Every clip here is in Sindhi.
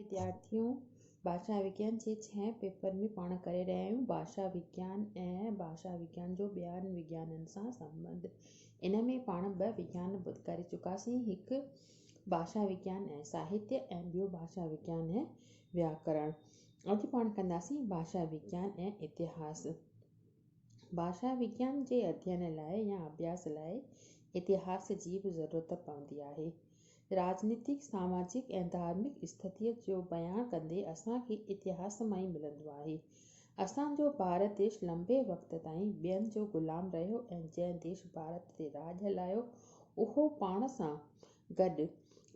وديارٿيون ڀاشا وگيان جي ڇهين پيپر ۾ پاڻ ڪري رهيا آهيون. ڀاشا وگيان ۽ ڀاشا وگيان جو ٻين وگيانن سان سنٻنڌ. ان ۾ پاڻ ٻه وگيان ڪري چڪاسين، هڪ ڀاشا وگيان ۽ ساهتيه ۽ ٻيو ڀاشا وگيان ۽ وياڪرڻ. اڄ پاڻ ڪنداسين ڀاشا وگيان ۽ اتهاس. ڀاشا وگيان جي اڌين لاء يا اڀياس لاء اتهاس جي به ضرورت پوندي آهي. راڄنيتڪ، ساماجڪ ۽ ڌارمڪ استٿيء جو بيان ڪندي اسان کي اتهاس مان ئي ملندو آهي. اسان جو ڀارت ديش لنبي وقت تائين ٻين جو غلام رهيو ۽ جنهن ديش ڀارت تي راڄ هلايو اهو پاڻ سان گڏ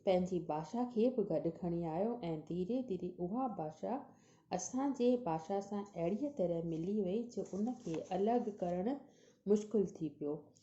پنهنجي ڀاشا کي به گڏ کڻي آيو ۽ ڌيري ڌيري اها ڀاشا اسان جي ڀاشا سان اهڙيء طرح ملي وئي جو ان کي الڳ ڪرڻ مشڪل ٿي پيو.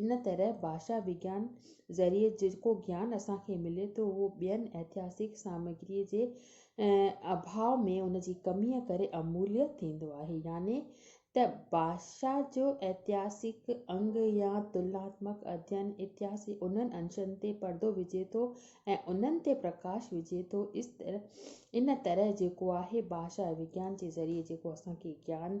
ان طرح ڀاشا وگيان ذريعي جيڪو گيان اسان کي ملي ٿو اهو ٻين اتهاسڪ سامگري جي اڀاء ۾ ان جي ڪمي ڪري اموليء ٿيندو آهي يعني ته ڀاشا جو اتهاسڪ انگ يا تلناتمڪ اڌين اتهاس جي انهن انشن تي پردو وجهي ٿو ۽ انهن تي پرڪاش وجهي ٿو ان طرح جيڪو آهي ڀاشا وگيان جي ذريعي جيڪو اسان کي گيان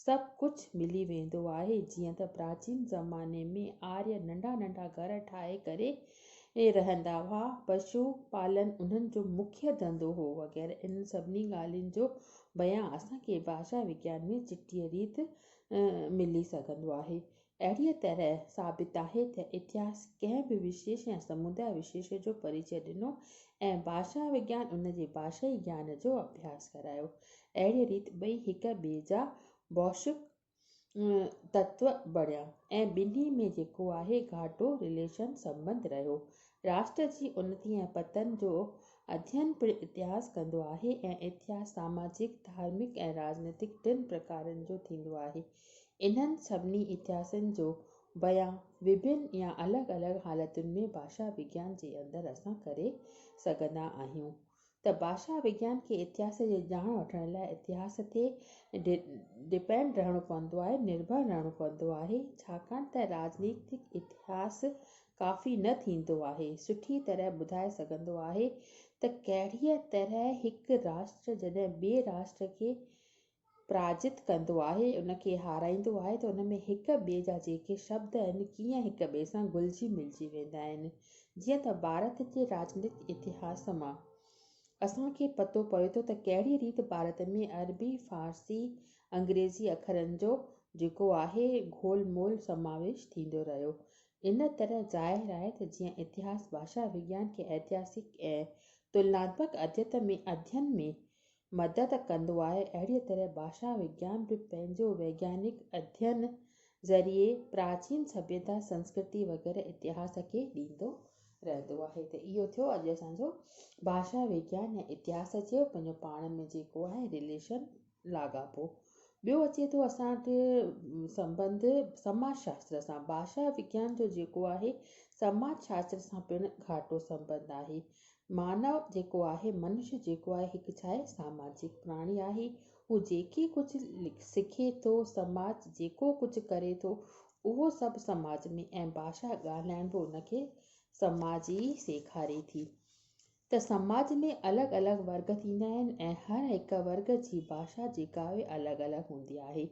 سڀ ڪجهه ملي ويندو آهي، جيئن ته پراچين زماني ۾ آريه ننڍا ننڍا گهر ٺاهي ڪري رهندا هئا، پشو پالن انهن جو مکيه ڌنڌو هو وغيره انهن سڀني ڳالهين جو بيان اسان کي ڀاشا وگيان ۾ چٽيء ريت ملي سگهندو آهي. اهڙيء طرح ثابت آهي ته اتهاس ڪنهن به وشيش يا سموداء وشيش جو پريچئه ڏنو ۽ ڀاشا وگيان ان جي ڀاشائي گيان جو اڀياس ڪرايو. اهڙيء ريت ٻئي هڪ ٻئي جا بوشڪ تتو بڻيا ۽ ٻنهي ۾ جيڪو آهي گهاٽو، Relation، سنٻنڌ رهيو. راشٽر جي انتي ۽ پتن جو اڌين پڻ اتهاس ڪندو آهي ۽ اتهاس ساماجڪ، ڌارمڪ ۽ راڄنيتڪ ٽن پرڪارن جو ٿيندو آهي. انهن سڀني اتهاسن جو بيان وڀن يا الڳ الڳ حالتن ۾ ڀاشا وگيان جي اندر اسان ڪري سگهندا آهيون ته ڀاشا وگيان کي اتهاس جي ڄاڻ وٺڻ لاء اتهاس تي ڊپينڊ رهڻو پوندو آهي، نرڀر رهڻو پوندو آهي، ڇاڪاڻ ته راڄنيتڪ اتهاس ڪافي نه ٿيندو آهي سٺي طرح ٻڌائي سگهندو آهي ته ڪهڙيء طرح هڪ راشٽر جڏهن ٻئي راشٽر کي پراجت ڪندو آهي، ان کي هارائيندو آهي ته ان ۾ هڪ ٻئي جا جيڪي شبد آهن، ڪيئن هڪ ٻئي سان گهلجي ملجي ويندا آهن. جيئن ته ڀارت جي راڄنيتڪ اتهاس مان اسان کي پتو پوي ٿو ته ڪهڙي ريت ڀارت ۾ عربي، فارسي، انگريزي اکرن جو جيڪو آهي گهول مول سماويش ٿيندو رهيو. ان طرح ظاهر آهي ته جيئن اتهاس ڀاشا وگيان کي ائتهاسڪ ۽ تلناتمڪ اديت ۾ ادين ۾ مدد ڪندو آهي، اهڙيء طرح ڀاشا وگيان به پنهنجو ويگيانڪ اڌين ذريعي پراچين سڀيتا، سنسڪرتي وغيره اتهاس کي ڏيندو رهندو آهي ته اهو ٿيو اڄ اسان جو ڀاشا وگيان يا اتهاس چئو پنهنجو پاڻ ۾ جيڪو آهي رليشن لاڳاپو. ٻيو اچي ٿو اسان وٽ سنبنڌ سماج شاستر سان، ڀاشا وگيان جو جيڪو آهي سماج شاستر سان پڻ گهاٽو سنبنڌ آهي، مانو جيڪو آهي، منش جيڪو آهي، هڪ ڇا آهي، ساماجڪ پراڻي آهي. هو جيڪي ڪجهه سکي ٿو، سماج جيڪو ڪجهه ڪري ٿو، اهو سڀ سماج ۾ ۽ ڀاشا ڳالهائڻ به ان کي سماج ئي سيکاري ٿي ته سماج ۾ الڳ الڳ ورگ ٿيندا آهن ۽ هر هڪ ورگ جي ڀاشا جيڪا آهي الڳ الڳ هوندي آهي.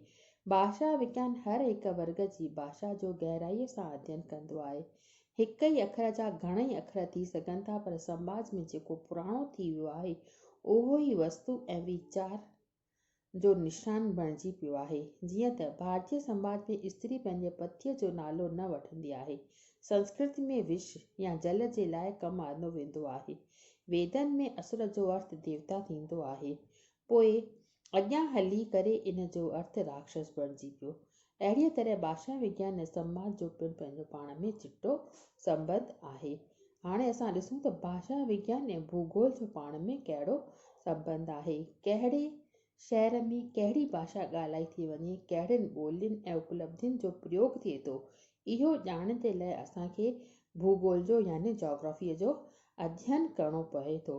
ڀاشا وگيان هر هڪ ورگ جي ڀاشا جو گهرائيء سان اڌين ڪندو آهي. هڪ ئي اکر جا گهڻئي اکر ٿي سگهن ٿا پر سماج ۾ جيڪو پراڻو ٿي ويو آهي اهو ئي وستو ۽ ويچار جو نشان بڻجي پيو آهي. جيئن ته ڀارتي سماج ۾ استري پنهنجي پتيء جو نالو نه وٺندي آهي. سنسڪرت ۾ وش يا جل جي لاء ڪم آندو ويندو آهي. ويدن ۾ اسور جو ارٿ ديوتا ٿيندو آهي. پوء اڳيان هلي ڪري ان جو ارٿ راڪشس بڻجي پيو. اهڙيء طرح ڀاشا وگيان ۽ سنواد جو پڻ پنهنجو پاڻ ۾ چٽو سنٻنڌ آهي. هاڻي اسان ڏسون ته ڀاشا وگيان ۽ ڀوڳول جو پاڻ ۾ ڪهڙو سنٻنڌ آهي. ڪهڙي شهر ۾ ڪهڙي ڀاشا ڳالهائي ٿي وڃي، ڪهڙين ٻولين ۽ اپلبڌين جو پريوڳ ٿئي ٿو، اهو ڄاڻڻ جي لاء اسان کي ڀوڳول جو يعني جاگرافيء جو اڌين ڪرڻو پوي ٿو.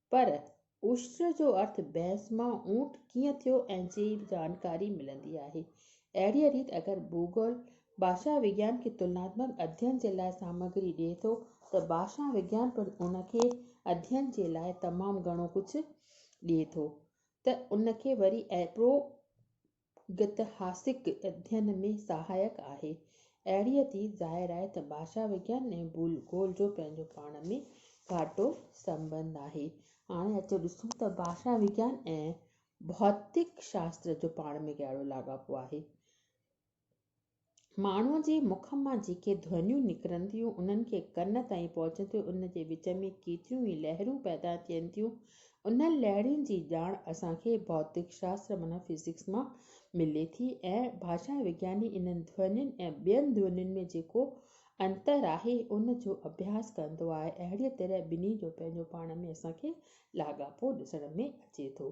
پر عشر جو ارٿ بحث مان اونٽ ڪيئن ٿيو ۽ جي جانڪاري ملندي آهي. اهڙيء ريت اگر ڀوڳول ڀاشا وگيان کي تلناتمڪ اڌين جي لاء سامگري ڏئي ٿو ته ڀاشا وگيان پڻ ان کي اڌين جي لاء تمام گهڻو ڪجهه ڏئي ٿو ته ان کي وري اهڙو گتهاسڪ اڌين ۾ سهائڪ آهي. اهڙيء ٿي ظاهر آهي ته ڀاشا وگيان ۽ ڀول گول جو پنهنجو پاڻ ۾ گهاٽو سنٻنڌ آهي. هاڻي اچو ڏسون ته ڀاشا وگيان ۽ ڀوتڪ شاستر جو پاڻ ۾ ڪهڙو لاڳاپو آهي. ماڻهوء جي مک مان جيڪي ڌونيون نڪرن ٿيون، انهن کي ڪن تائين پهچندي ان جي وچ ۾ ڪيتريون ئي لهرون پيدا ٿين ٿيون. انهن لهرين جي ڄاڻ اسان کي ڀوتڪ شاستر معنيٰ فزڪس مان ملي ٿي ۽ ڀاشا وگياني انهن ڌونين ۽ ٻين ڌونين ۾ جيڪو انتر آهي، ان جو اڀياس ڪندو آهي. اهڙيء طرح ٻنهي جو پنهنجو پاڻ ۾ اسان کي لاڳاپو ڏسڻ ۾ اچي ٿو.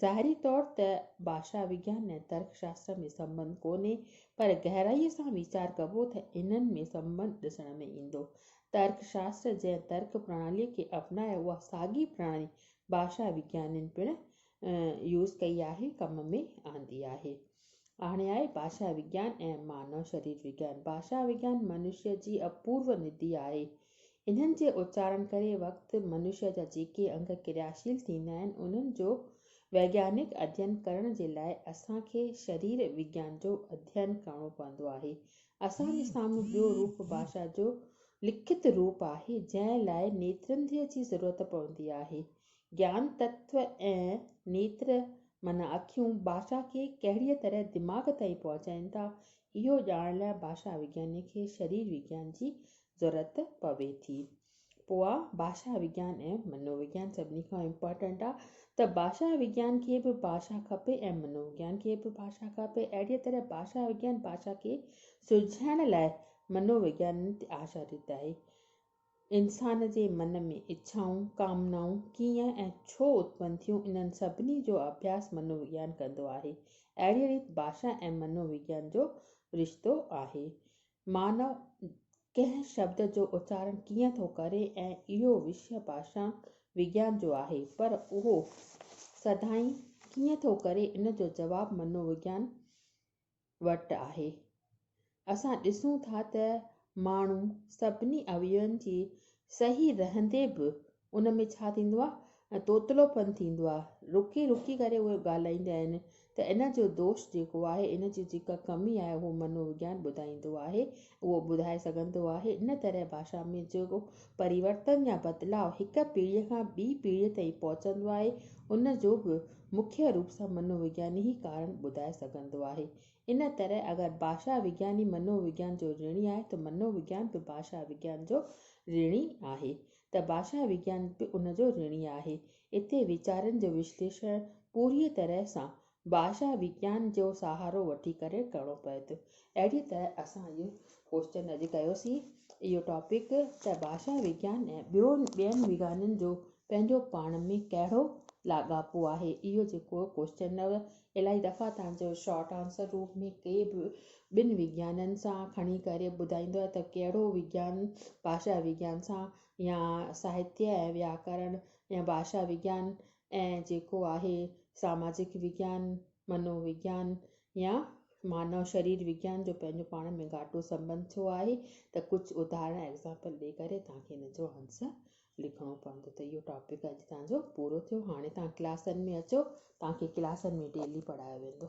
ظاهري طور ته ڀاشا وگيان ۽ ترڪ شاستر ۾ سنٻنڌ ڪونهي، پر گهرائيء سان ويچار ڪبو ته انهن ۾ سنٻنڌ ڏسڻ ۾ ايندو. ترڪ شاستر جنهن ترڪ پرڻاليء کي اپنائي اها ساڳي پرڻالي ڀاشا وگيانين پڻ يوز ڪئي آهي، ڪم ۾ آندي آهي. آڻي آهي ڀاشا وگيان ۽ مانو شرير وگيان. ڀاشا وگيان منشيء جي اپورو ندي آهي. انهن جي اچارڻ ڪري وقت منشيا جا جيڪي انگ ڪرياشيل ٿيندا آهن انهن جو ويگيانڪ اڌين ڪرڻ جي لاء اسان کي شرير وگيان جو اڌين ڪرڻو پوندو آهي. اسان جي سامهون ٻيو روپ ڀاشا جو لکت روپ آهي جنهن لاء نيترنڌيء جي ضرورت پوندي آهي. گيان تتو ۽ نيتر معنيٰ اکيون ڀاشا کي ڪهڙيء طرح دماغ تائين پهچائين ٿا اهو ڄاڻڻ لاء ڀاشا وگياني کي شرير وگيان جي ضرورت پوي ٿي پوء ڀاشا وگيان ۽ منو وگيان سڀني کان امپارٽنٽ آ ته ڀاشا وگيان کي به ڀاشا کپي ۽ منو وگيان کي به ڀاشا کپي اهڙي طرح ڀاشا وگيان ڀاشا کي سلجهائڻ لاء منو وگيان تي آشاريت آهي انسان جي من ۾ اڇائون ڪامنائون ڪيئن ۽ ڇو اتپن ٿيون انهن سڀني جو اڀياس منو وگيان ڪندو آهي اهڙي ريت ڀاشا ۽ منو وگيان جو رشتو آهي مانو ڪنهن شبد جو اچارڻ ڪيئن ٿو ڪري ۽ اهو وشيه ڀاشا وگيان جو آهي پر اهو سڌائين ڪيئن ٿو ڪري ان جو جواب منو وگيان وٽ آهي. اسان ڏسون ٿا ته ماڻهو سڀني اويون جي صحيح رهندي به ان ۾ ڇا ٿيندو آهي ۽ توتلو پن ٿيندو آهي رڪي رڪي ڪري اهي ڳالهائيندا آهن ته ان جو دوش جيڪو آهي ان جي جيڪا ڪمي آهي اهو منو وگيان ٻڌائيندو آهي اهو ٻڌائي سگهندو آهي ان طرح ڀاشا ۾ جيڪو پريورتن يا بدلاء هڪ پيڙهي کان ٻي پيڙهي تائين پهچندو آهي ان جو به مکيه روپ سان منو وگياني ئي ڪارڻ ٻڌائي سگهندو آهي ان طرح اگر ڀاشا وگياني منو وگيان جو رڻي آهي ته منو وگيان به ڀاشا وگيان جو رڻي آهي ته ڀاشا وگيان به ان جو رڻي آهي. اتي ويچارن جو وشليشڻ پوريء طرح سان ڀاشا وگيان جو سهارو وٺي ڪري ڪرڻو پوي ٿو. اهڙيء طرح اسان اهو ڪوئسچن اڄ ڪيوسين، اهو ٽاپڪ، ته ڀاشا وگيان ۽ ٻيون ٻين وگيانن جو پنهنجو پاڻ ۾ ڪهڙو لاڳاپو آهي. اهو جيڪو ڪوئسچن هو، الائي دفعا توهان جو شارٽ آنسر روپ ۾ ڪي به ٻن وگيانن سان کڻي ڪري ٻڌائيندو آهي ته ڪهڙو وگيان ڀاشا وگيان سان يا ساهتيه ۽ وياڪرڻ ۽ ڀاشا وگيان ۽ جيڪو آهي ساماجڪ وگيان، منو وگيان يا مانو شرير وگيان جو پنهنجو پاڻ ۾ گهاٽو سنٻنڌ ڇو آهي ته ڪجهه اداهرڻ، Example، ڏئي ڪري توهان کي ان جو آنسر لکڻو پوندو ته اهو ٽاپڪ اڄ توهان جو پورو ٿيو هاڻي توهان ڪلاسن ۾ اچو توهان کي ڪلاسن ۾ ڊيلي پڙهايو ويندو.